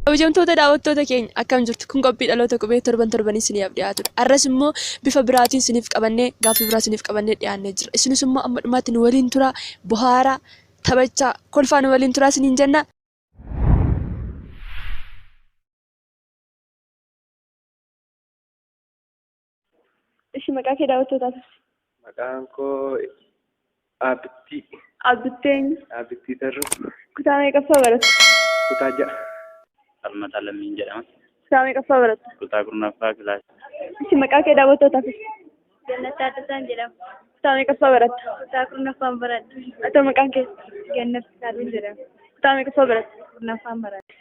Kabajamtoota daawwattoota keenya akkam jirtu kun qophii dhaloota qubee torban torbanii isiniif dhiyaatudha. Har'as immoo bifa biraatiin isiniif qabannee gaaffii biraa isiniif qabannee dhiyaannee jira. Isinis immoo amma dhumaatti nu waliin turaa bohaaraa taphachaa kolfaa nu waliin turaa isiniin jenna. Ishi maqaa kee daawwattootaaf ibsi. Maqaan koo Abittii. Abbittee eenyu? Abittii Tarruu. Kutaa meeqaffaa baratta? Kutaa ja'a. Falmataa Lammiin jedhama. Kutaa meeqaffaa baratta? Kutaa kurnaffaa kilaasii. Ishi maqaa kee daawwattootaaf ibsi. Gannat Taaddasaan jedhama. Kutaa meeqaffaa baratta? Kutaa kurnaffaan baradha. Ata maqaan kee? Gannat Taaddasaan jedhama. Kutaa meeqaffaa baratta? Kurnaffaan baradha.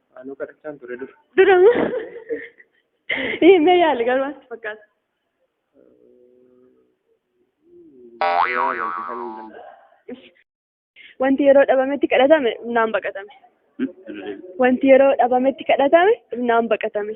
Anuu kadhachaan ture dura. Dura himee yaale garuu maatti fakkaata. Wanti yeroo dhabametti kadhatame humnaan baqatame. Wanti yeroo dhabametti kadhatame humnaan baqatame.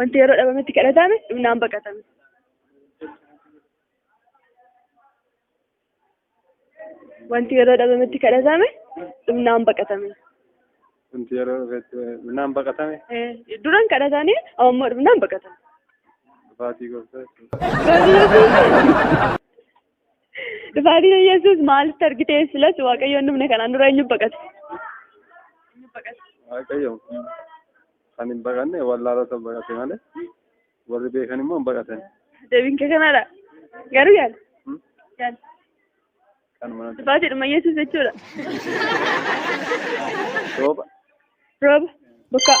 Wanti yeroo dhabametti kadhatame dhumnaan baqatame. Wanti yeroo dhabametti kadhatame dhumnaan baqatame. Wanti yeroo dhufetti dhumnaan baqatame. Duran kadhatanii ammoo dhumnaan baqatame. Dhufaatii gooftaa. Dhufaatiin Yesuus maalitti argitee silas Waaqayyoon dhumne kanaan dura eenyu baqate? Waaqayyo kan hin baqanne wallaalota baqate malee warri beekan immoo hin baqatan. Deebiin kee kanadha. Garuu yaala. Hmm? Yaala. Kan mana Dhufaatiidhuma Yesuus jechuudha. rooba. Rooba. Bokkaa.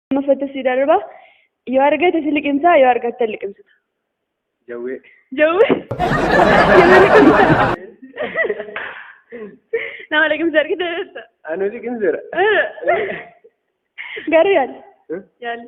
Lammaffatti si darba. Yoo argate si liqimsaa yoo argatte hin liqimsitu. Jawwee. Jawwee. Nama liqimsa. Nama liqimsa argite beekta. Anu liqimseera. Garuu yaali. Yaali.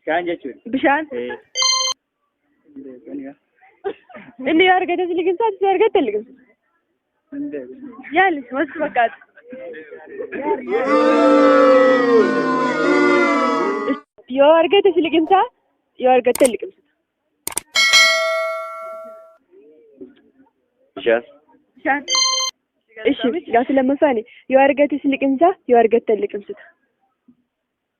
Bishaan jechuun. Bishaan. Eh. Inni yoo argate si liqimsaa, si argatte hin liqimsu. Yaali, wanti fakkaatu. Yoo argate si liqimsaa, yoo argatte hin liqimsu. Bishaan. Bishaan. Ishi, gaaffii lammaffaani. Yoo argate si liqimsaa, yoo argatte hin liqimsuta.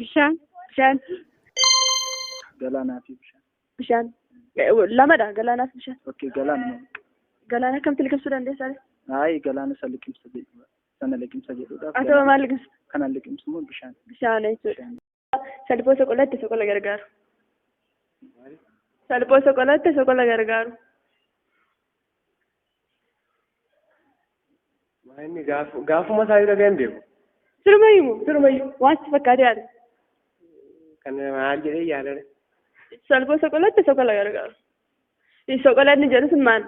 Bishaan. Bishaan. Galaanaa fi bishaan. Bishaan. Eh, Lamadha galaanaa fi bishaan. Okkee galaana. Galaana akkamti liqimsuu dandeessaa? Ayi galaana isa liqimsa jedhudha. Sana liqimsa jedhudha. Asaba maal liqimsa? Kana liqimsu immoo bishaan. Bishaan jechuudha. Salphoo soqolaatti soqola gargaaru. Salphoo soqolaatti soqola gargaaru. Waa inni gaaf- gaafuma isaa irra ga'een beeku. Sirumayyuu moo sirumayyuu waan si fakkaatee haadha. Kan maal jedhee yaadame. Salphoo soqolaatti soqola gargaaru. Soqolanni jedhu sun maal?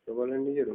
Soqolanni jedhu.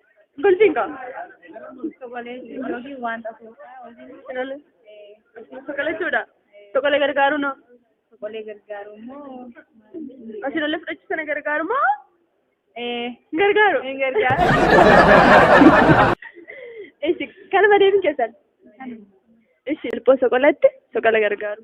Bultiin qaba. Soqalachuudha. Soqala gargaaru noo. Soqalee gargaaru immoo Asiin ollee fudhachuu sana gargaaru moo? Hin gargaaru. Hin gargaaru. Ishi kanuma deebiin keessan. Ishi ilphoo soqalatti soqala gargaaru.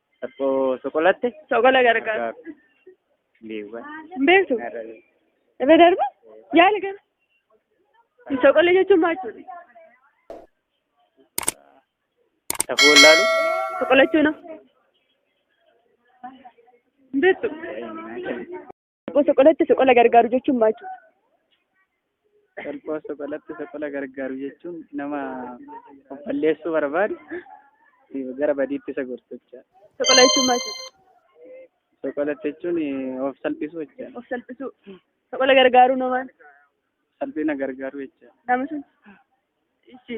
Soqo- Soqolatte? Soqola gargaar. Gargaaru. Beewwan. Hin beektu? Narra beeku. Irra darba? Yaala gara. Soqola jechuun maal jechuudha? Safuu wallaalu? Soqolachuuna. Hin beektu? Salphoo soqolatti soqola gargaaru jechuun maal jechuudha? Salphoo soqolatti soqola gargaaru jechuun nama of balleessuu barbaadu gara badiitti isa gorsu jechuudha. Soqola jechuun maal jechuudha? Soqolatti jechuun of salphisuu jechuudha. Of salphisuu. Soqola gargaaruu noo maal? Salphina gargaaruu jechuudha. Nama sun. Ishi.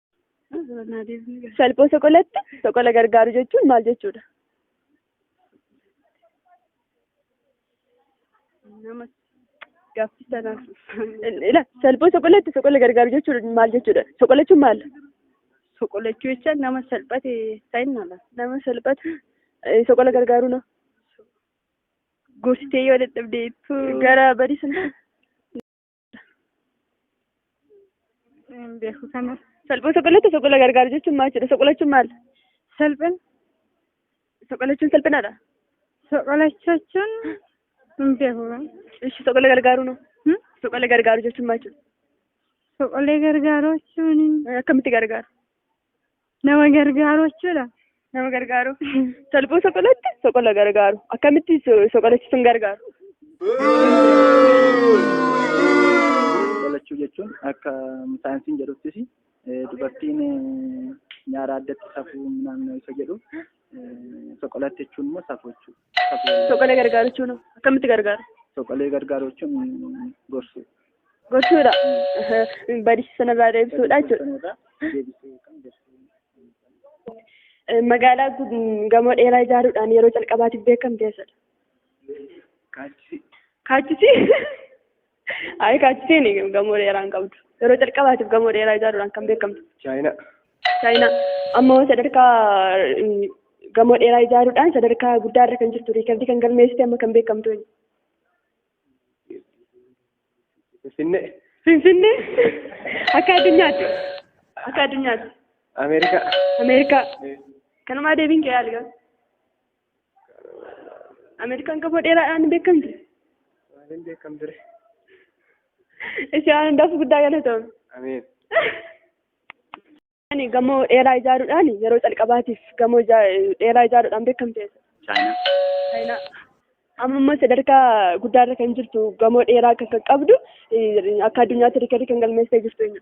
Salphoo soqolatti soqola gargaaru jechuun maal jechuudha? Nama gaaffii sanaaf. Ila salphoo soqolatti soqola gargaaru jechuun maal jechuudha? Soqolachuun maal? Soqolachuu jecha nama salphate ta'innala. Nama salphata eh, soqola gargaaru na Gorsitee yoo dadhabdeettu. gara badii sana Hin beeku kana. Salphoo soqolatti soqola gargaaru jechuun maal jedha? Soqolachuun maal? Salphina. Soqolachuun salphinaadha. Soqolachuun hin beeku kana. Ishi soqola gargaaru no? Hmm? Soqola gargaaru jechuun maal jedha? Soqolee gargaaruu jechuun Akkamitti gargaaru? Nama gargaaru jechuudha. Nama gargaaru. Salphuu soqolatti soqola gargaaru. Akkamitti so- soqolachiisuun gargaaru? Qolachuu jechuun akka saayinsiin jedhuttis eh, dubartiin eh, nyaara addatti safuu naannoo isa jedhu eh, soqolatti jechuun immoo safuu jechuudha. Soqalee gargaaru jechuun hoo? akkamitti gargaaru? Soqalee gargaaru jechuun gorsuu. Gorsuudha. Badiisa sanarraa deebisuudha jechuudha. Deebisuu yookaan gorsuu. Eh, Magaalaa gud- gamoo dheeraa ijaaruudhaan yeroo calqabaatiif beekamte eessadha? Kaachisi. Kaachisi. Ayi kaachisiin gamoo dheeraa hin qabdu. Yeroo calqabaatiif gamoo dheeraa ijaaruudhaan kan beekamtu. Chaayinaa. Chaayinaa amma hoo sadarkaa eh, gamoo dheeraa ijaaruudhaan sadarkaa guddaa irra kan jirtu riikardii kan galmeessite amma kan beekamtu eenyu? Finfinnee. Finfinnee akka addunyaatti akka addunyaatti Ameerikaa. Ameerikaa kanumaa deebiin kee yaaligaa Ameerikaan gamoo dheeraadhaan ni beekamti. Maaliin beekamtu ree? Ishee waan hundaaf guddaa galatoomi. Ameen. Ani gamoo dheeraa ijaaruudhaan yeroo calqabaatiif gamoo ijaa- dheeraa ijaaruudhaan beekamte. Chaayinaa. Chaayinaa. Amma immoo sadarkaa guddaarra kan jirtu gamoo dheeraa kan kan qabdu eh, akka addunyaatti riikardii kan galmeessee jirtu eenyu?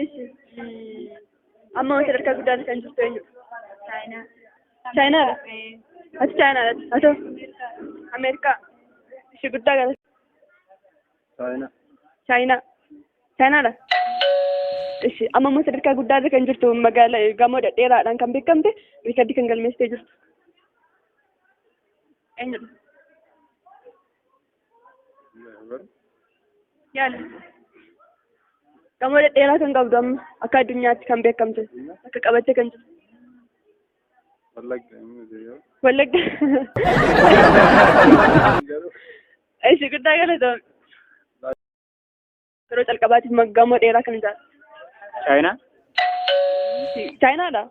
Ishi. Amma wanti sadarkaa guddaa kan jirtu eenyu? Chaayinaa. Chaayinaadha. Ati Chaayinaadha. Ati Ameerikaa. Ishee guddaa gara. Chaayina. Chaayinaa. Chaayinaadha. Ishi amma immoo sadarkaa guddaa irra kan jirtu magaala gamoo dhedheeraadhaan kan beekamte riikardii kan galmeessitee jirtu. Eenyudha? Yaali. Gamoo dhedheeraa kan qabdu amma akka addunyaatti kan beekamte akka qabattee kan jirtu. Wallagga hin miti yoo. Wallagga. Garuu Ishi guddaa galatoom. Yeroo calqabaatiif ma- gamoo dheeraa kan ijaartu. Chaayinaa? Chaayinaadha.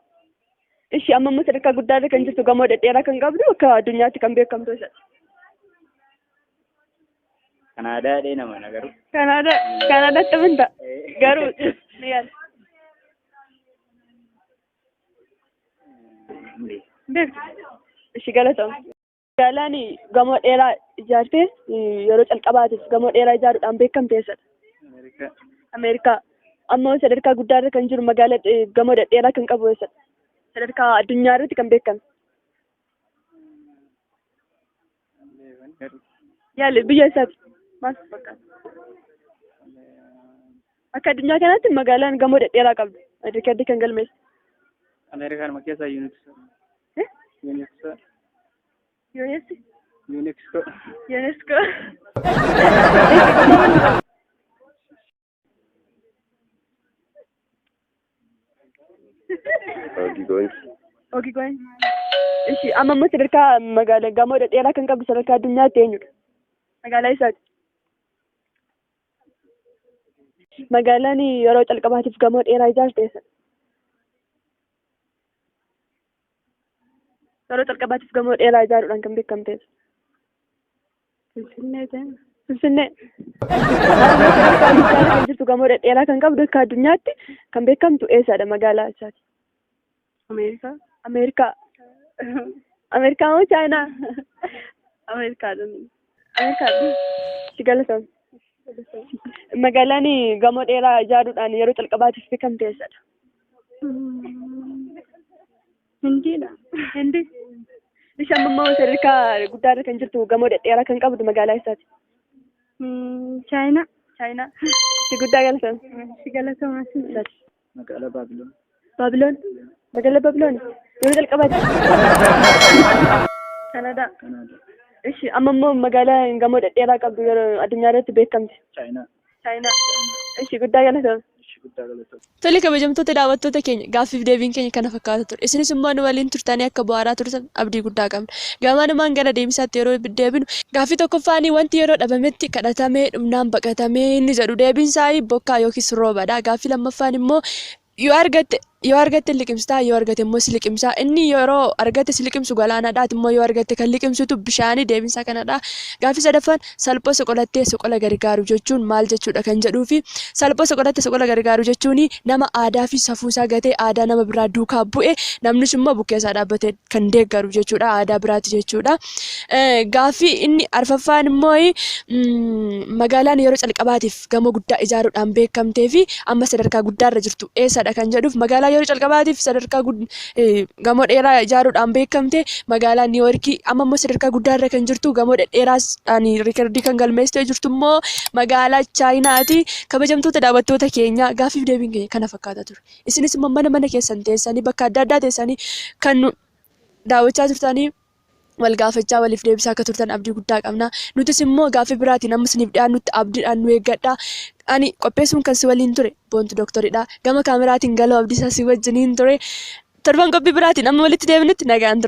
Ishi amma immoo sadarkaa guddaarra kan jirtu gamoo dhedheeraa kan qabdu akka addunyaatti kan beekamtu isa. Kanaadaa dhee nama na garuu. Kanaada Kanaadaatti amantaa. Garuu ni yaala. beektu ishi galatoom gaalaan gamoo dheeraa ijaartee yeroo calqabaatiif gamoo dheeraa ijaaruudhaan beekamte eessadha Ameerikaa. ameerikaa amma sadarkaa guddaa irra kan jiru magaala eh, gamoo dhedheeraa kan qabu eessadha sadarkaa addunyaa irratti kan beekame Yaale biyya isaati. Maal fakkaata? Akka addunyaa kanaatti magaalaan gamoo dhedheeraa qabdu. Riikardii kan galmeessu. Ameerikaan keessa yuuniksoo. Eh? Yuuniksoo. Yooneessi. Yuuniksoo. Yooneessi. Hojii goonsi. Ogi goin. Ishi amma immoo sadarkaa magaalaa gamoo dhedheeraa kan qabdu sadarkaa addunyaatti eenyudha? Magaalaa isaati. Magaalaan yeroo calqabaatiif gamoo dheeraa ijaarte eessa? Yeroo calqabaatiif gamoo dheeraa ijaaruudhaan kan beekamteedha. Finfinnee ta'e. Finfinnee. Finfinnee kan jirtu gamoo dhedheeraa kan qabdu akka addunyaatti kan beekamtu eessaadha magaalaa eessaati? Ameerikaa. Ameerikaa. Ameerikaa moo Chaayinaa? Ameerikaadhaan. Ameerikaadha. Si galatoomi. Magaalaan gamoo dheeraa ijaaruudhaan yeroo calqabaatiif beekamte eessadha? Hindiidha. Hindi. Ishi amma immoo sadarkaa guddaa irra kan jirtu gamoo dhedheeraa kan qabdu magaalaa isaati. Mm, Chaayinaa. Chaayinaa. Itti guddaa galatan. Si galatoomaa si Isaati. Magaalaa Baabiloon. Baabiloon. Magaalaa Baabiloon. Yeroo jalqabaati. Kanadaa. Kanaadaa. Ishi amma immoo magaalaa gamoo dhedheeraa qabdu yeroo addunyaa irratti beekamte. Chaayinaa. Chaayinaa. Ishi guddaa galatoom. Ishi guddaa galatoom. Tole kabajamtoota daawwattoota keenya gaaffiif deebiin keenya kana fakkaata ture. Isinis immoo nu waliin turtanii akka bu'aaraa turtan abdii guddaa qabna. Gamaanumaan gara deebisaatti yeroo deebinu gaaffii tokkoffaanii wanti yeroo dhabametti kadhatamee dhumnaan baqatamee inni jedhu deebiin isaa bokkaa yookiis roobadha. Gaaffii lammaffaan immoo Yoo argatte yoo argatte liqimsitaa yoo argate immoo si liqimsaa inni yeroo argatte si liqimsu galaanadha ati immoo yoo argatte kan liqimsitu bishaanii deebinsaa kanadha gaaffii sadaffaan salphoo soqolattee soqola gargaaru jechuun maal jechuudha kan jedhuu fi salphoo soqolatte soqola gargaaru jechuun nama aadaa fi safuu isaa gatee aadaa nama biraa duukaa bu'e namnis immoo bukkee isaa dhaabbate kan deeggaru jechuudha aadaa biraati jechuudha gaaffii inni arfaffaan immoo magaalaan yeroo calqabaatiif gamoo guddaa ijaaruudhaan beekamtee fi amma sadarkaa guddaarra jirtu eessadha kan jedhuuf magaalaa yeroo calqabaatiif sadarkaa gamoo dheeraa ijaaruudhaan beekamte magaalaa Niiwoorkii amma immoo sadarkaa guddaarra kan jirtu gamoo dhedheeraadhaan riikardii kan galmeessitee jirtu immoo magaalaa Chaayinaati. Kabajamtoota daawwattoota keenya gaaffiif deebiin keenya kana fakkaata ture. Isinis immoo mana mana keessan teessanii bakka adda addaa teessanii kan daawwachaa jirtanii wal gaafachaa waliif deebisaa akka turtan abdii guddaa qabna. Nutis immoo gaaffii biraatiin amma isiniif dhiyaannutti abdiidhaan nu eeggadha. Ani qopheessuun kan si waliin ture Boontu Dooktoridha. Gama kaameraatiin Galoo Abdiisaa si wajjiniin ture. Torban qophii biraatiin amma walitti deebinutti nagaan tura.